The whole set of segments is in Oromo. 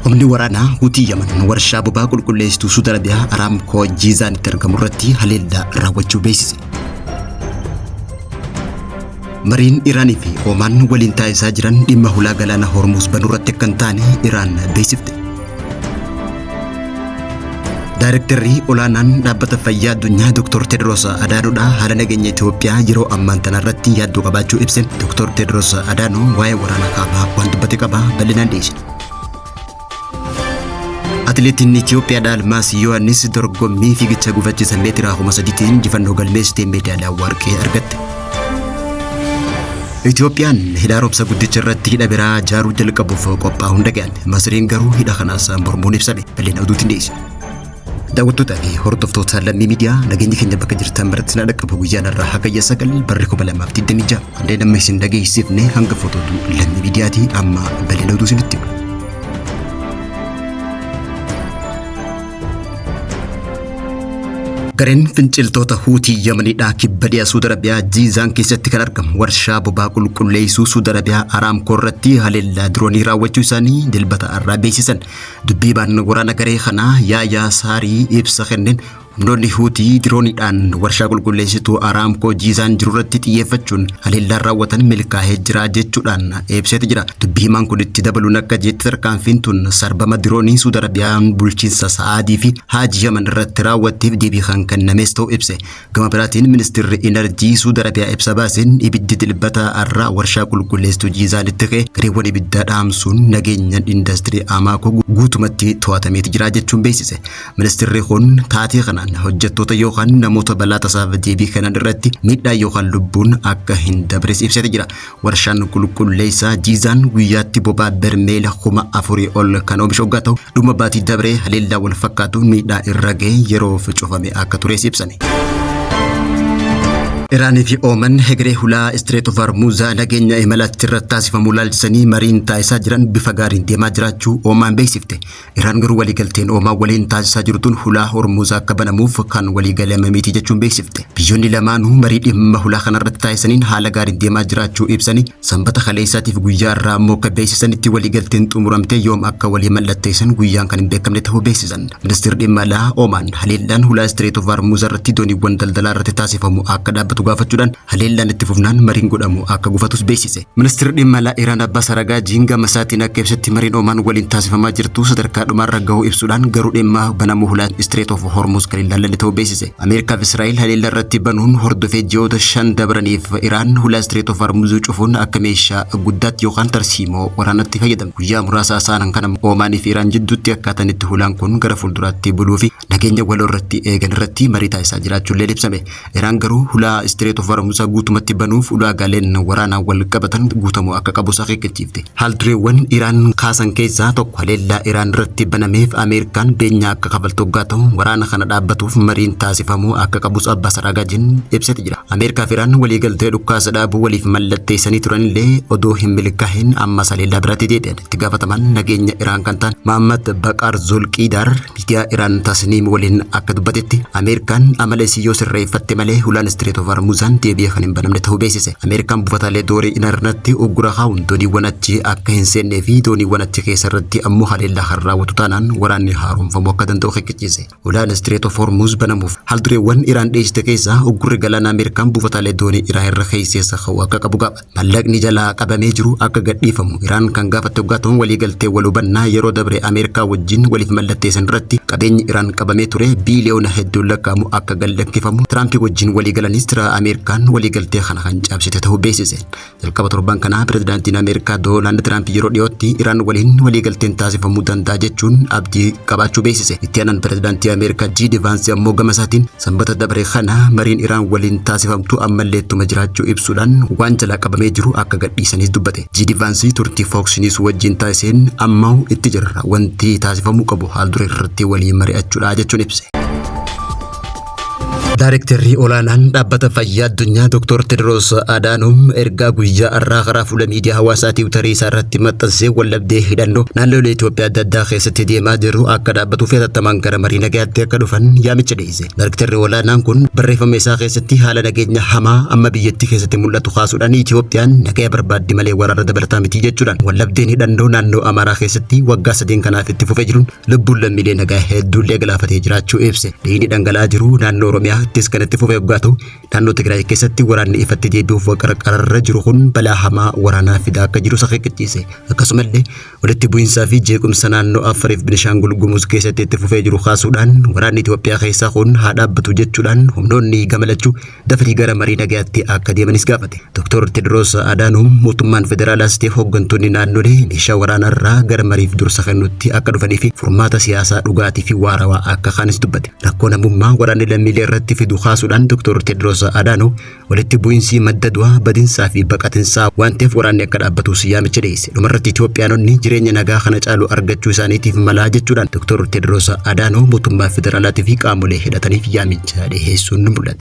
Humni waraanaa Hutii Yaman warshaa bobaa qulqulleessituu Suud Arabiyaa Araamkoo Jiizaanitti argamu irratti haleellaa raawwachuu beeksise. Mariin Iraanii fi Omaan waliin taasisaa jiran dhimma hulaa galaana Hormuuz banuu irratti akka hin taane Iraan beeksifte. Daayirektarri olaanaan dhaabbata fayyaa addunyaa Dr. Tedros Adhaanoodha haala nageenya Itoophiyaa yeroo ammaan tana irratti yaaddoo qabaachuu ibse. Dr. Tedros Adhaanoo waa'ee waraana kaabaa waan dubbate qaba bal'inaan dhiyeessina. Atileetiin Itoophiyaadhaa Almaas Yohaannis dorgommii fiigicha gufachiisa meetiraa kuma sadiitiin injifannoo galmeessitee meedaaliyaa warqee argatte. Itoophiyaan hidha haaromsa guddicha irratti hidha biraa ijaaruu jalqabuuf qophaa'uun dhaga'ame. Masriin garuu hidha kanaas mormuun ibsame. Bal'ina oduutiin dhiyeessa. Daawwattootaa fi hordoftoota lammii miidiyaa nageenyi keenya bakka jirtan maratti na dhaqqabu guyyaan har'aa hagayya sagal barri kuma lamaaf digdamii ja'a. Kanneen amma isin dhageessifne hanga fotootu lammii miidiyaati amma bal'ina oduu isinitti hima. Gareen finciltoota Huutii Yamaniidhaa kibba dhiyaa Suud Arabiyaa Jiizaan keessatti kan argamu warshaa bobaa qulqulleessuu Suud Arabiyaa Araamkoo irratti haleellaa diroonii raawwachuu isaanii dilbata har'aa beeksisan. Dubbiibaan waraana garee kanaa Yaayaa Saarii ibsa kenneen humnoonni Huutii dirooniidhaan warshaa qulqulleessituu Araamkoo Jiizaan jirurratti xiyyeeffachuun haleellaan raawwatan milkaa'ee jira jechuudhaan ibseeti jira. Dubbi himaan kun itti dabaluun akka jeetti tarkaanfiin tun sarbama diroonii Suud Arabiyaan bulchiinsa Sa'aadii fi Haaji Yaman irratti raawwatteef deebii kan kennamees ta'uu ibse. Gama biraatiin ministirri Inarjii Suud Arabiyaa ibsa baaseen ibiddi dilbata har'aa warshaa qulqulleessituu Jiizaanitti ka'e gareewwan ibiddaa dhaamsuun nageenyaan indastirii Amaakoo guutumatti to'atameeti jira jechuun beeksise. Ministirri kun taatee kanaan hojjettoota yookaan namoota balaa tasaaf deebii kennan irratti miidhaa yookaan lubbuun akka hin dabres ibseeti jira. Warshaan qulqulleessaa Jiizaan guyyaatti bobaa bermeela kuma afurii ol kan oomishu hoggaa ta'u, dhuma baatii dabree haleellaa wal fakkaatu miidhaa irra ga'e yeroof cufame akka tures ibsame. Iraanii fi Ooman hegeree hulaa Istireet of Hormuuzaa nageenya imala achirratti taasifamu ilaalchisanii mariin taasisaa jiran bifa gaariin deemaa jiraachuu Oomaan beeksifte. Iraan garuu waliigalteen Oomaan waliin taasisaa jirtuun hulaa Hormuuz akka banamuuf kan waliigalame miti jechuun beeksifte. Biyyoonni lamaanuu marii dhimma hulaa kanarratti taasisaniin haala gaariin deemaa jiraachuu ibsanii sanbata kaleessaatiif guyyaa irraa ammoo akka beeksisanitti waliigalteen xumuramtee yoom akka walii mallatteessan guyyaan kan hin beekamne ta'uu beeksisan. Ministeerri dhimma alaa Oomaan haleellaan hulaa Istireet of Hormuuz irratti dooniiwwan daldalaa irratti taasifamu akka dhaabbatu gaafachuudhaan Haleellaan itti fufnaan mariin godhamu akka gufatus beeksise. Ministirri dhimma alaa Iraan Abbaas Aragaajiin gama isaatiin akka ibsetti mariin Omaan waliin taasifamaa jirtu sadarkaa dhumaarra gahuu ibsuudhaan garuu dhimma banamuu hulaa Strait of Hormuz kan hin laallanne ta'uu beeksise. Ameerikaa fi Israa'el haleellaa irratti banuun hordofee ji'oota shan dabraniif Iraan hulaa Strait of Hormuz cufuun akka meeshaa guddaatti yookaan tarsiimoo waraanaatti fayyadamte. Guyyaa muraasa asaanan kana Omaanii fi Iraan jidduutti akkaataan itti hulaan kun gara fuulduraatti buluu fi nageenya waloo irratti eegan irratti marii taasisaa jiraachuullee ibsame. Iraan garuu hulaa Istireet of Hormuuzaa guutumatti banuuf ulaagaaleen waraanaa wal qabatan guutamuu akka qabus akeekkachiifte. Haaldureewwan Iraan kaasan keessaa tokko haleellaa Iraan irratti banameef Ameerikaan beenyaa akka kafaltu oggaa ta'u, waraana kana dhaabbatuuf mariin taasifamuu akka qabus Abbaas Araagaajiin ibsati jira. Ameerikaa fi Iraan waliigaltee dhukkaasa dhaabuu waliif mallatteessanii turanillee odoo hin milkaa'in ammas haleellaa biraatti deebi'an. Itti gaafatamaan nageenya Iraan kan ta'an Mahammad Baqaar Zulqiidaar Miidiyaa Iraan Tasniim waliin akka dubbatetti Ameerikaan amala isii yoo sirreeffatte malee hulaan Istireet of Hormuuzaan deebi'ee kan hin banamne ta'uu beeksise. Ameerikaan buufataalee doorii inarnatti uggura kaa'uun dooniiwwan achi akka hin seennee fi dooniiwwan achi keessa irratti ammoo haleellaa kan raawwatu taanaan waraanni haaromfamuu akka danda'u akeekkachiise. Hulaan Istireet of Hormuuz banamuuf haaldureewwan Iraan dhiyeessite keessaa uggurri galaanaa Ameerikaan buufataalee doonii Iraan irra keesseessa ka'uu akka qabu gaafate. Mallaqni jalaa qabamee jiru akka gadhiifamu Iraan kan gaafatte oggaa ta'u waliigaltee wal hubannaa yeroo dabre Ameerikaa wajjin waliif mallatteessan irratti qabeenyi Iraan qabamee ture biiliyoona hedduun lakkaa'amu akka gallakkifamu Tiraampi wajjin waliigalanis jira Ameerikaan waliigaltee kana kan cabsite ta'uu beeksise. Jalqaba torban kanaa pirezidaantiin Ameerikaa Doolaand Tiraampi yeroo dhiyootti Iraan waliin waliigalteen taasifamuu danda'a jechuun abdii qabaachuu beeksise. Itti aanaan pirezidaantii Ameerikaa Jiidi Vaansi ammoo gama isaatiin Sanbata dabre kana mariin Iraan waliin taasifamtu ammallee ittuma jiraachuu ibsuudhaan waan jalaa qabamee jiru akka gadhiisanis dubbate. Jiidi Vaansii turtii Fox News wajjin taasiseen ammahu itti jirra wanti taasifamuu qabu haal duree irratti walii mari'achuudha jechuun ibse. Daarektarri olaanaan dhaabbata fayyaa addunyaa Dr. Tedros Adhanom ergaa guyyaa har'aa karaa fuula miidiyaa hawaasaa tiwutarii isaa irratti maxxansee waldhabdee hidhannoo naannolee Itoophiyaa adda addaa keessatti deemaa jiru akka dhaabbatuuf hatattamaan gara marii nagaa Tti akka dhufan yaamicha dhiyeesse. Daariktarri olaanaan kun barreeffama isaa keessatti haala nageenya hamaa amma biyyattii keessatti mul'atu kaasuudhaan Itiyoophiyaan nagaya barbaaddi malee waraana dabalataa miti jechuudhaan waldhabdeen hidhannoo naannoo Amaaraa keessatti waggaa sadeen kanaaf itti fufee jiruun lubbuun lammiilee nagaa hedduullee galaafatee jiraachuu ibse. Dhiigni dhangala'aa jiru naannoo Oromiyaattis kan itti fufee waggaa ta'u naannoo Tigraay keessatti waraanni ifatti deebi'uuf waqarqararra jiru kun balaa hamaa waraanaa fidaa akka jirus akeekkachiise. Akkasumallee Walitti bu'iinsaa fi jeequmsa naannoo Affariif Binishaangul Gumuz keessatti itti fufee jiru kaasuudhaan waraanni Itoophiyaa keessaa kun haa dhaabbatu jechuudhaan humnoonni gama lachuu dafanii gara marii nagayaatti akka deemanis gaafate. Doktor Tedros Adhanom mootummaan federaalaas ta'e hooggantoonni naannolee meeshaa waraanaarraa gara mariif dursa kennutti akka dhufanii fi furmaata siyaasaa dhugaatii fi waarawaa akka kaanis dubbate. Rakkoo namummaa waraanni lammiilee irratti fidu kaasuudhaan Doktor Tedros Adhanom Walitti bu'insii madda du'aa, badinsaa fi baqatinsaa waan ta'eef waraanni akka dhaabbatuus yaamicha dhiyeesse. Dhumarratti Itoophiyaanonni jireenya nagaa kana caalu argachuu isaaniitiif mala jechuudhaan Doktor Teedroos Adaanoo mootummaa federaalaatii fi qaamolee hidhataniif yaamicha dhiheessuun mul'ate.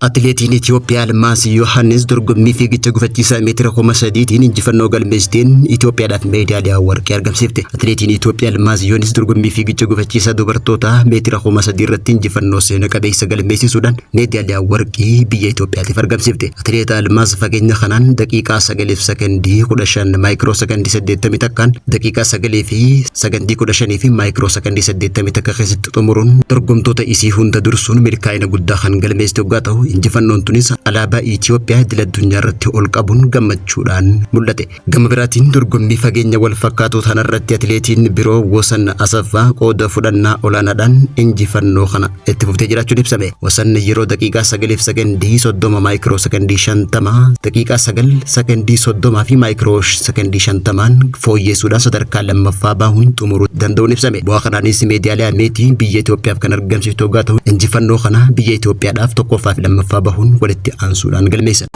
Atileetiin Itoophiyaa Almaas Yohaannis dorgommii fiigicha gufachiisaa meetira kuma sadiitiin injifannoo galmeessiteen Itoophiyaadhaaf meedaaliyaa warqee argamsiifte. Atileetiin Itoophiyaa Almaaz Yoonis dorgommii fiigicha gufachiisaa dubartootaa meetira kuma sadii irratti injifannoo seena qabeessa galmeessisuudhaan meedaaliyaa warqii biyya Itoophiyaatiif argamsiifte. Atileet Almaaz fageenya kanaan daqiiqaa sagaliif sekondii kudha shan maayikiroo sekondii saddeettamii takkaan daqiiqaa sagalii fi sekondii kudha shanii fi maayikiroo sekondii saddeettamii takka keessatti xumuruun dorgomtoota isii hunda dursuun milkaa'ina guddaa kan galmeessite oggaa ta'u injifannoon tunis alaabaa Itoophiyaa idil addunyaa irratti ol qabuun gammachuudhaan mul'ate. Gama biraatiin dorgommii fageenya wal fakkaatu tanarratti atileetiin biroo Wasan Asaffaa qooda fudhannaa olaanaadhaan injifannoo kana itti fuftee jiraachuun ibsame. Wasan yeroo daqiiqaa 9f sekendii 30 maayikiroo sekendii 50, daqiiqaa 9 sekendii 30 fi maayikiroo sekendii 50n fooyyeessuudhaan sadarkaa lammaffaa bahuun xumuruu danda'uun ibsame. Bu'aa kanaanis meedaaliyaa meetii biyya Itoophiyaaf kan argamsiifte hoggaa ta'u injifannoo kana biyya Itoophiyaadhaaf tokkoffaa fi lammaffaa bahuun walitti aansuudhaan galmeessan.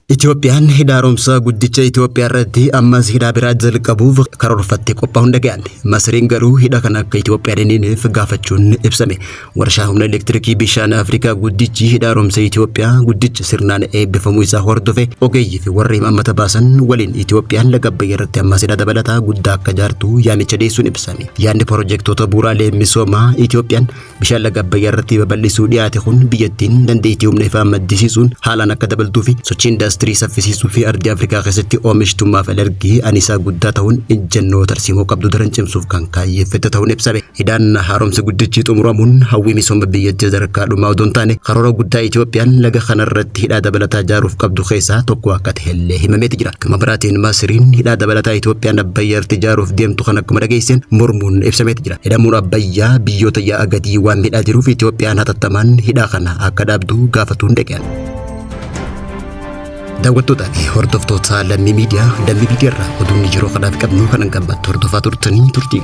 Itoophiyaan hidha haaromsaa guddicha Itoophiyaa irratti ammas hidhaa biraa jalqabuuf karoorfattee qophaa'uun dhaga'ame. Masriin garuu hidha kana akka Itoophiyaan hin hineef gaafachuun ibsame. Warshaa humna elektirikii bishaan Afrikaa guddichi hidha haaromsa Itoophiyaa guddicha sirnaan eebbifamuu isaa hordofe ogeeyyii fi warra imaammata baasan waliin Itoophiyaan laga Abbayyaa irratti ammas hidha dabalataa guddaa akka jaartu yaamicha dhiyeessuun ibsame. Yaadni pirojektoota bu'uuraalee misoomaa Itoophiyaan Bishaan laga Abbayyaa irratti babal'isuu dhiyaate kun biyyattiin dandeettii humna ifaa maddisiisuun haalaan akka dabaltuu fi sochii indaastirii saffisiisuu fi ardii Afrikaa keessatti oomishtummaaf alergii anisaa guddaa ta'uun ejjennoo tarsiimoo qabdu daran cimsuuf kan kaayyeeffate ta'uun ibsame. Hidhaan haaromsa guddichi xumuramuun hawwii misooma biyyattii sadarkaa dhumaa odoo hin taane karoora guddaa Itoophiyaan laga kana irratti hidhaa dabalataa ijaaruuf qabdu keessaa tokko akka ta'ellee himameeti jira. Gama biraatiin Masiriin hidhaa dabalataa Itoophiyaan Abbayyaa irratti ijaaruuf deemtu kana akkuma dhageesseen mormuun ibsameeti jira. Hidhamuun Abbayyaa biyyoota yaa'a gadii waan midhaa jiruuf Itoophiyaan hatattamaan hidhaa kana akka dhaabdu gaafatuun dhaqan. Daawwattootaa fi hordoftoota lammii miidiyaa lammii miidiyaa irraa oduun yeroo kanaaf qabnu kan hangammattu hordofaa turtanii turtii.